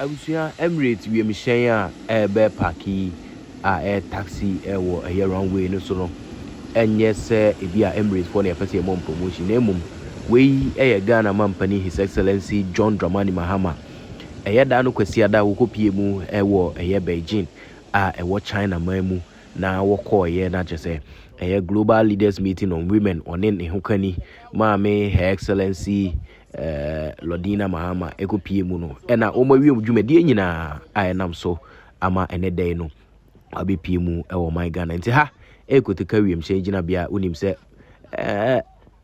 Abusua, Emirates wiemhyɛn a ɛrebɛpaake yi a ɛyɛ taxi wɔ ɛyɛ runway no so no ɛnyɛ sɛ ebi a Emirates foɔ na yɛpɛ sɛ yɛmɔ promotion na mmom wei ɛyɛ Ghana mampanin His Excellency John Dramani Mahama ɛyɛ da no kwasiada wɔkɔpie mu ɛwɔ ɛyɛ Beijing a ɛwɔ China man mu na wɔkɔɔyɛ na kyɛ sɛ ɛyɛ Global Leaders Meeting on Women ɔne ne ho kani Maame Her Excellency eh, Lordina Mahama ɛkɔpie mu no ɛna wɔn awie dwumadie nyinaa a ɛnam so ama ɛnɛ dɛn no abɛpie mu ɛwɔ ɔman Ghana nti ha ɛkɔteka wiemhyɛn gyinabea wonim sɛ eh,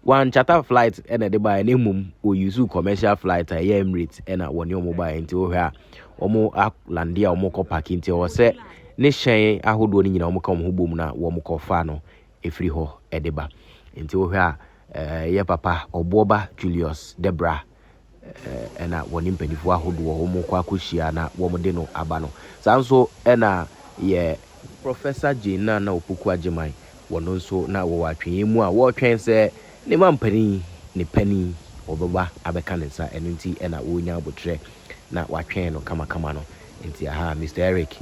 wankyata flight ɛna ɛde baeɛ na mmom wɔyusu commercial flight a ɛyɛ Emirates ɛna wɔne wɔn baeɛ nti wohwɛ a wɔn alande a wɔkɔ paki nti ɛwɔ sɛ ne hyɛn ahodoɔ no nyinaa wɔka wɔn ho bom na wɔkɔfa no ɛfiri hɔ de ba. Nti wohwɛ a yɛ papa ɔboɔba Julius Debra na wɔne mpanimfoɔ ahodoɔ wɔn kɔ akɔhyia na wɔn de no aba no. Saa nso na yɛ Professor Jane Nana Opoku Agyeman, wɔn nso na wɔwɔ atweneɛ mu a wɔretwɛn sɛ ne mampanin, ne panin, ɔbɛba abɛka ne nsa. Ɛno nti na wɔrenya aboterɛ na wɔatwɛn no kamakama no. Nti aha Mister Eric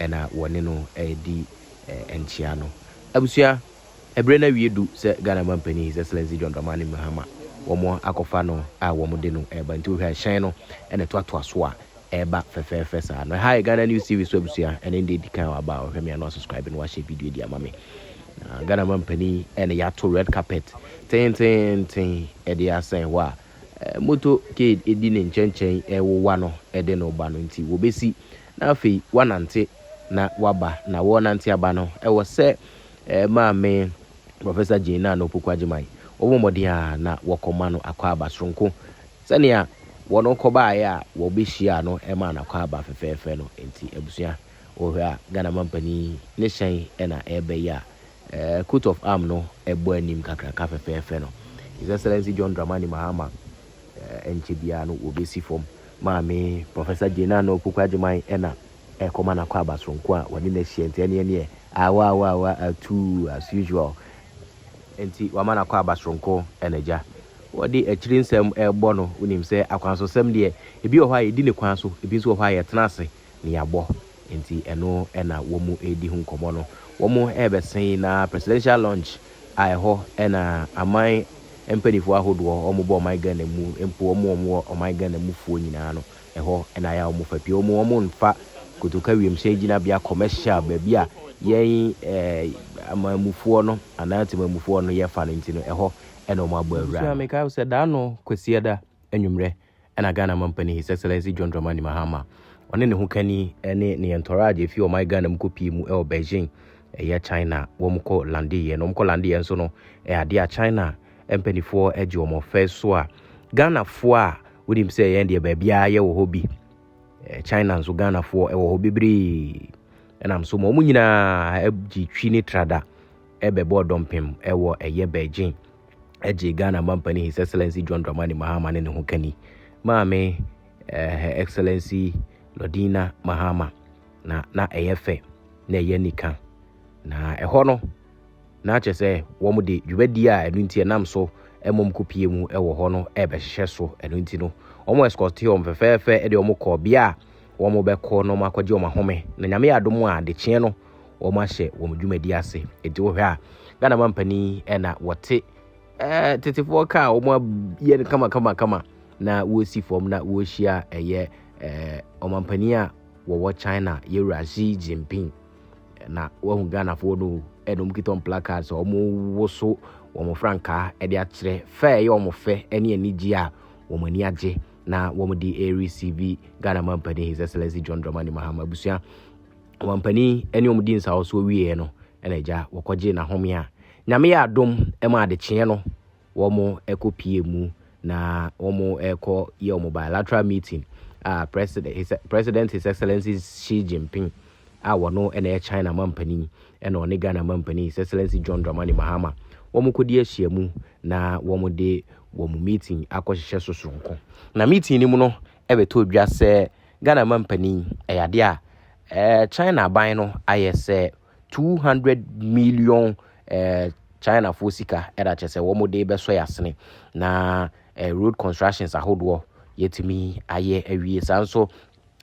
na wɔne no redi nkyea no. Abusua, ɛberɛ no awie du sɛ Ghana Mampanin His Excellency John Dramani Mahama wɔn akɔfa no a wɔn de no reba nti wohwɛ a ɛhyɛn no na ɛtoatoa so a ɛreba fɛfɛɛfɛ saa no. Ɛha yɛ Ghana News TV so abusua, ɛnɛ ndeɛ di kan a waba a ɔhwɛ me a na wasubscribe na wahyɛ video adi ama me. Na Ghana Mampanin ɛna yɛato red carpet tenteenten ɛde asɛn hɔ a motorcade ɛdi ne nkyɛnkyɛn ɛwowa no ɛde no ba no nti wɔbɛsi Na afei woanante na woaba, na worenante aba no, ɛwɔ sɛ Maame Professor Jane Nana Opoku Agyemang, wɔbɔ mmɔden ara na wɔkɔma no akwaaba soronko sɛnea wɔn kɔbaeɛ a wɔbɛhyiaa no maa no akwaaba fɛfɛɛfɛ no nti. Abusua, wohwɛ a, Ghana Mampanin ne hyɛn na ɛreba yi a coat of arm no bɔ anim kakraka fɛfɛɛfɛ no, His Excellency John Dramani Mahama, ɛnkyɛ biara no wɔbɛsi fam. Maame, Professor Jane Anna Opoku Agyemang na ɛrekɔma n'akwaaba soronko a wɔne no ahyia nti ɛneɛ neɛ aawɔ aawɔ aawɔ atuu as usual nti wama n'akwaaba soronko na agya wɔde akyiri nsɛm rebɔ no wonim sɛ akwansosɛm deɛ ebi wɔ hɔ a yɛdi ne kwan so ebi nso wɔ hɔ a yɛtena ase nea bɔ nti ɛno na wɔn redi ho nkɔmmɔ no. Wɔn rebɛsen yi na presidential launch a ɛhɔ na aman mpaninfoɔ ahodoɔ wɔn bɔ ɔman Ghana mu mpo wɔn wɔn wɔ ɔman Ghana mu foɔ nyinaa no ɛhɔ na ayɛ a wɔn fa pie wɔn wɔn nfa kotoka wiemhyɛn gyinabea commercial baabi a yɛn eh, amanmufoɔ no anaa temanmufoɔ no yɛfa no nti no ɛhɔ na wɔn abɔ awura. Nso a mekae sɛ daa no kwasiada anwummerɛ. ɛna Ghana mampanin His Excellency John Dramani Mahama, ɔne ne ho kani ne ne yɛntɔraa gye fi ɔman Ghana mu kɔpie mu ɛwɔ Beijing, ɛyɛ China, wɔn kɔ landeeɛ no, wɔn kɔ landeeɛ nso no, ɛyɛ adeɛ a China mpanifoɔ gye wɔn ɔfɛ so a Ghanafoɔ a wonim sɛ yɛn deɛ baabiara yɛwɔ hɔ bi, China nso Ghanafoɔ ɛwɔ hɔ bebree, ɛnam so ma wɔn nyinaa gye twi ne trada ɛbɛbɔ dɔmpem ɛwɔ ɛyɛ Beijing. gyee Ghana Mampanin His Excellency John Dramani Mahama ne ne ho kani, maame eh, Her Excellency Lordina Mahama, na na ɛyɛ fɛ na ɛyɛ nika. Na ɛhɔ no, na kyerɛ sɛ wɔn de dwumadi a ɛno nti ɛnam so mmom kopie mu wɔ hɔ no ɛrebɛhyehyɛ so. Ɛno nti no, wɔn escorte wɔn fɛfɛɛfɛ de wɔn kɔɔ bea a wɔn bɛkɔ na wɔn akɔgye wɔn ahome. Na nyame yɛ adom a adekyeɛ no wɔn ahyɛ wɔn dwumadi ase nti wohwɛ a ghana ma mpanin ɛna wɔte ɛɛ tetefoɔ kaa wɔn ayɛ no kamakamakama na wɔresi fam na wɔrehyia ɛyɛ ɛɛ ɔmampanin a wɔwɔ china yɛwura xi jinping na wɔahu ghanafoɔ no ɛna wɔn kita wɔn placards wɔn woso wɔn frankaa ɛde akyerɛ fɛ ɛyɛ wɔn fɛ ɛne anigye a wɔn ani agye na wɔn de ɛresi bi ghana ma mpanin his excellency john dramani mahama abusua ɔmampanin ne wɔn dii nsawosoɔ wieeɛ no na agya wɔkɔgyee n'ahome a nyame yɛ adom ma adekyeɛ no wɔn ɛkɔ pie mu na wɔn ɛkɔ yɛ wɔn bilateral meeting a president his, president his excellency Xi Jinping a wɔno ɛna yɛ China mampanin ɛna ɔne Ghana mampanin his excellency John Dramani Mahama wɔn kɔdi ahyia mu na wɔn de wɔn meeting akɔhyehyɛ so soronko na meeting no mu no ɛbɛtɔ dwa sɛ Ghana mampanin yi, ɛyɛ adeɛ a eh, China aban no ayɛ sɛ 200 million eh, Chinafoɔ sika ɛda kyɛ sɛ wɔn de bɛsɔ yasene na eh, road constructions ahodoɔ yɛtumi ayɛ awie saa nso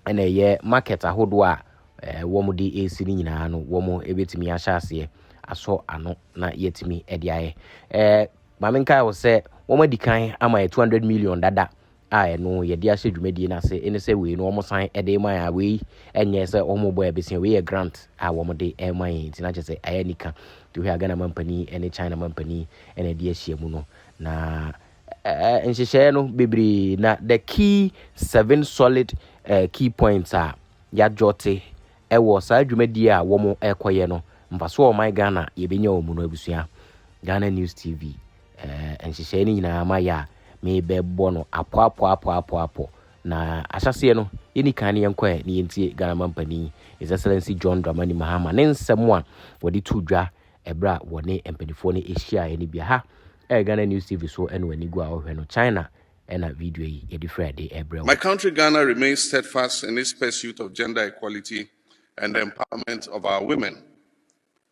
ɛna ɛyɛ market ahodoɔ a eh, wɔn de ɛresi no nyinaa no wɔn ɛbɛtumi ahyɛ aseɛ asɔ ano na yɛtumi ɛde ayɛ eh, maame nkae wɔ sɛ wɔn adi kan ama yɛ 200 million dada a ɛno yɛde ahyɛ dwumadie no ase ne sɛ wei no wɔsan de ma yɛn a wei nyɛ sɛ wɔbɔ yɛ bɛsia wei yɛ grant a wɔde ma yɛn nti na kyerɛ sɛ ayɛ anika nti wohwɛ a Ghana mampanin ne China mampanin na ɛde ahyia mu no na uh, nhyehyɛeɛ no bebree na the key seven solid uh, key points a yɛadwɔte ɛwɔ saa dwumadie a wɔn ɛkɔyɛ no mfasoɔ ɔman Ghana yɛbɛnya wɔn mu no abusua Ghana News TV Eh, nhyehyɛe no nyinaa ma yɛ a, mebɛbɔ no apɔapɔapɔapɔapɔ. Na ahyɛaseɛ no, yɛni kan ne yɛnkɔ ɛ ne yɛntie Ghana mampanin His Excellency John Dramani Mahama ne nsɛm a wɔde too dwa ɛberɛ a wɔne mpanimfoɔ no hyiaeɛ no bi. Ha ɛyɛ Ghana News TV so ɛna w'ani gu a wohwɛ no. China ɛna video yi yɛde fira de ɛbrɛ wo. My country Ghana remains steadfast in its pursuit of gender equality and the empowerment of our women.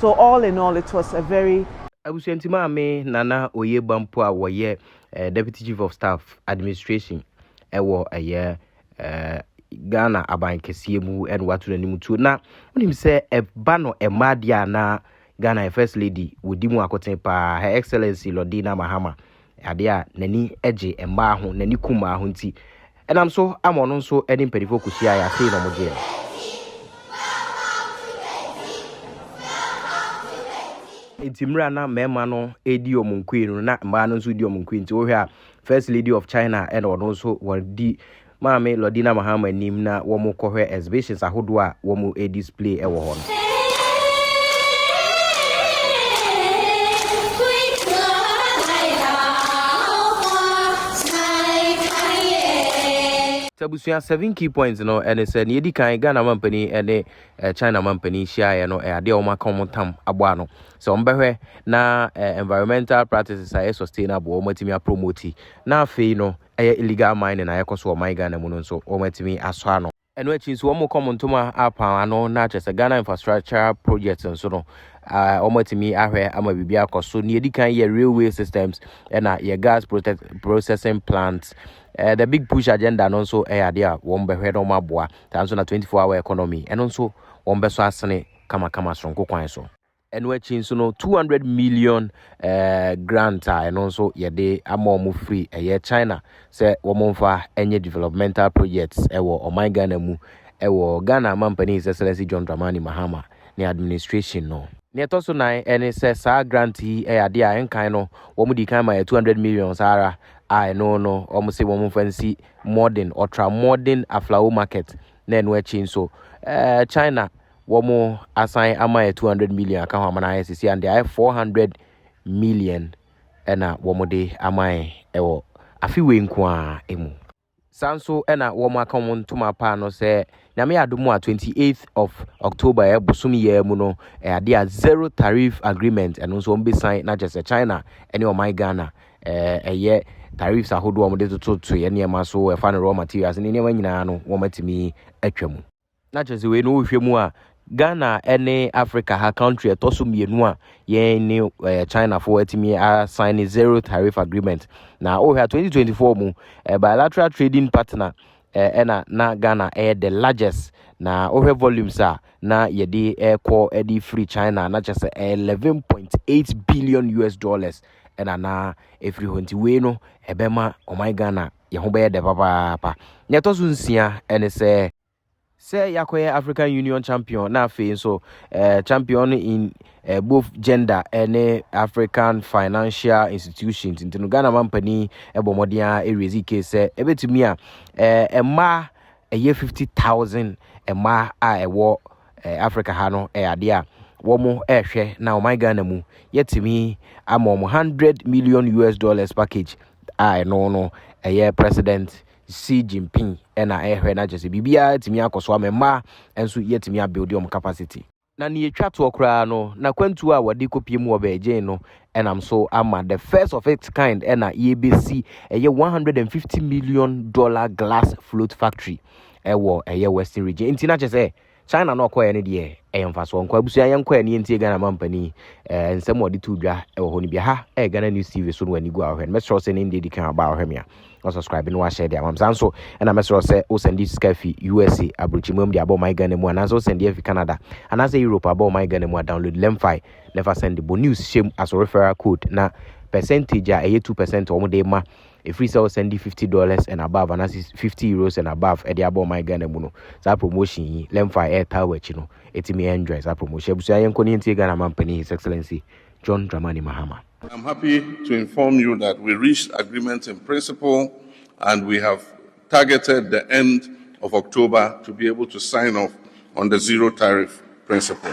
so all in all it was a very. Abusuanti maame Nana Oyeba mpo a wɔyɛ Deputy Chief of Staff Administration wɔ ɛyɛ Ghana aban kɛseɛ mu na wato n'anim tuo na wonim sɛ ɛba no mmaa deɛ a na Ghana First Lady wɔdi mu akoten paa Her Excellency Lordina Mahama Ade a n'ani gye mmaa ho, n'ani ku mmaa ho nti, ɛnam so ama ɔno nso ne mpanimfoɔ kɔhyiaeɛ a sei na wɔgyee no. Nti mmerɛ a na mmarima no redi wɔn nkoe no, na mmaa no nso redi wɔn nkoe. Nti wohwɛ a, First Lady of China ɛna ɔno nso wɔdi Maame Lordina Mahama nim na wɔn kɔhwɛ exhibitions ahodoɔ a wɔn display wɔ hɔ no. Abusua seven key points no ɛne sɛ nea edi kan Ghana mampanin ɛne eh, China mampanin hyiaeɛ no ɛyɛ adeɛ a wɔn aka wɔn tam abɔ ano sɛ wɔn bɛhwɛ na eh, environmental practices a ɛyɛ sustainable wɔn atumi apromoti na afei no ɛyɛ illegal mining a ɛkɔ so wɔ ɔman Ghana mu no nso wɔatumi asɔ ano. Ɛno akyi nso wɔkɔ Montoma apan ano na kyerɛ sɛ Ghana infrastructure projects nso no wɔatumi ahwɛ ama biribi akɔ so. Nea edi kan yɛ railway systems ɛna yɛ gas processing plants. Uh, the big push agenda no nso ɛyɛ adeɛ a wɔn bɛhwɛ na wɔn aboa. Saa nso na 24 hour economy ɛno nso wɔn bɛsɔ asene kamakama soronko kwan so. Ɛno akyi nso no, 200 million eh, grant a ɛno nso yɛde ama wɔn firi ɛyɛ China sɛ wɔn mfa ɛnyɛ developmental projects ɛwɔ ɔman Ghana mu ɛwɔ Ghana Mampanin His Excellency John Dramani Mahama ne administration no. Nea ɛtɔ so nan ɛne sɛ saa grant yi ɛyɛ adeɛ a ɛnkan no wɔn di kan ma yɛ 200 million saa ara a ɛno no wɔn se wɔn mfa nsi modern ultra modern aflao market na ɛno akyi nso eh, China wɔn asan ama yɛ 200 million aka ho ama no ayɛ sisi ande ayɛ 400 million ɛna wɔn de ama yɛ ɛwɔ afi wei nko ara mu saa nso ɛna wɔn aka wɔn ntoma paa no sɛ nyame yɛ adomu a 28th of october ɛ bosom yɛ mu no ɛ adeɛ a zero tariff agreement ɛno nso wɔn bɛ sign na kyerɛ sɛ china ɛne ɔman ghana ɛɛ ɛyɛ tariffs ahodoɔ wɔn de tototoeɛ nneɛma so ɛfa no raw materials ne nneɛma nyinaa no wɔn atumi atwa mu. na kyerɛ sɛ wei no wohwɛ mu a Ghana ne Africa ha country ɛtɔ so mmienu a yɛn ne ɛɛ Chinafoɔ atumi asan ne zero tariff agreement na wohwɛ a 2024 mu ɛɛ bilateral trading partner ɛɛ ɛna na Ghana ɛyɛ the largest na wohwɛ volumes a na yɛde ɛkɔ ɛde firi China na kyerɛ sɛ 11.8 billion US dollars ɛna na ɛfiri hɔ nti wei no ɛbɛma ɔman Ghana yɛn ho bɛyɛ dɛ papaapa. Nea ɛtɔ so nsia ne sɛ, sɛ yɛakɔyɛ African Union champion na afei nso eh, champion in eh, both gender ne African financial institutions nti no Ghana mampanin bɔ mmɔden a ɛrezi ke sɛ ɛbɛtumi a eh, mmaa ɛyɛ 50,000 mmaa a ɛwɔ Eh, Africa ha no, eh, adeɛ a wɔn ɛrehwɛ na ɔman Ghana mu yɛtumi ama wɔn hundred million US dollars package a ɛno no ɛyɛ president Xi Jinping ɛna ɛrehwɛ na kyerɛ sɛ biribiara tumi akɔ so ama mmaa nso yɛtumi abuild wɔn capacity. Na nea etwa toɔ koraa no, n'akwantuo a wɔde kɔpie mu wɔ Beijing no ɛnam so ama the first of its kind ɛna yɛbɛsi ɛyɛ one hundred and fifty million dollar glass float factory ɛwɔ ɛyɛ western region nti na kyɛ sɛ china na ɔkɔɛ no deɛ ɛyɛ mfasoɔ nkɔ abusua yɛn kɔɛ no yɛntie ghana ma mpanin ɛɛ eh, nsɛm ɔde to dwa ɛwɔ hɔ no bi ha ɛyɛ ghana news tv so no wani gu a ɔhwɛ no mɛsrɛ sɛ ne ndeɛ di kan aba a ɔhwɛ me a ɔsubscribe no wahyɛ deɛ amam saa nso ɛna mɛsrɛ sɛ wosɛnde sika fi usa aburokyi mu de abɔ ɔman ghana mu anaasɛ wosɛnde afi canada anaasɛ europe abɔ ɔman ghana mu a download lemfi na ɛfa sɛnde bɔ news hyɛm asɔ referral code na percentage a ɛyɛ 2 percent wɔn de ma Ɛfiri sɛ wo sɛndi fifty dollars and above anaasɛ fifty euros and above ɛde abɔ ɔman Ghana mu no, saa promotion yi, Lemfi ɛretaa wɔ akyi no, ɛtumi enjoy saa promotion. Abusua yɛnkɔ ne yɛntie Ghana Manpanin His Excellency John Dramani Mahama. I'm happy to inform you that we reached agreement in principle and we have. targeted the end of October to be able to sign off on the zero tariff principle.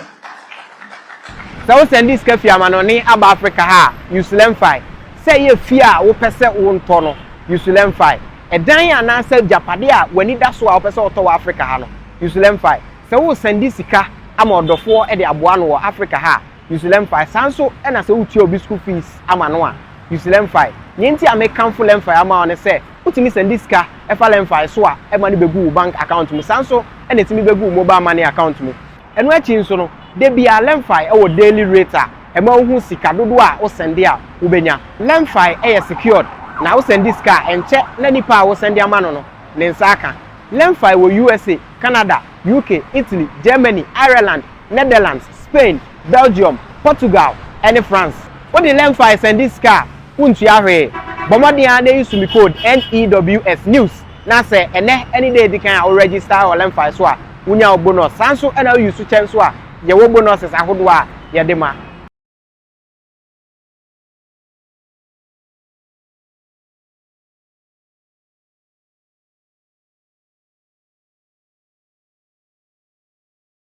Sɛ wo sɛnde sika fi amanɔne aba Africa ha a, Usulemfae. Sɛ ɛyɛ fie a wo pɛ sɛ wo ntɔ no, Usulemfae. Ɛdan anaa sɛ agyapadeɛ a w'ani da so a wo pɛ sɛ wo tɔ wɔ Africa ha no, Usulemfae. Sɛ wo sɛnde sika ama ɔdɔfoɔ de aboa no wɔ Africa ha a, Usilemfae. Saa nso na sɛ wotua obi school fees ama no a, Usilemfae. Nea enti a mekamfo Lemfae ama wo ne sɛ, wotumi sɛnde sika fa Lemfae so a ɛma no begu wo bank account mu. Saa nso na etumi begu wo mobile money account mu. Ɛno akyi nso no, da biara Lemfae wɔ daily rate a ɛma wohu sika dodoɔ a wosɛnde a wobɛnya. Lemfae yɛ secured na wosɛnde sika a, ɛnkyɛ na nipa a wosɛnde ama no no ne nsa aka. Lemfae wɔ USA, Canada, UK, Italy, Germany, Ireland, Netherlands, Spain, Belgium, Portugal, ne France. Wo de Lemfi sɛnde sika a, wontua hwee. Bɔ mmɔden ara na yi Sumikode NEWS, news, na sɛ ɛnnɛ ne da a edi kan a wo register wɔ Lemfi so a, wunya wo bonus. Saa nso na wo use kyɛ nso a, yɛ wo bonuses ahodoɔ a yɛde ma.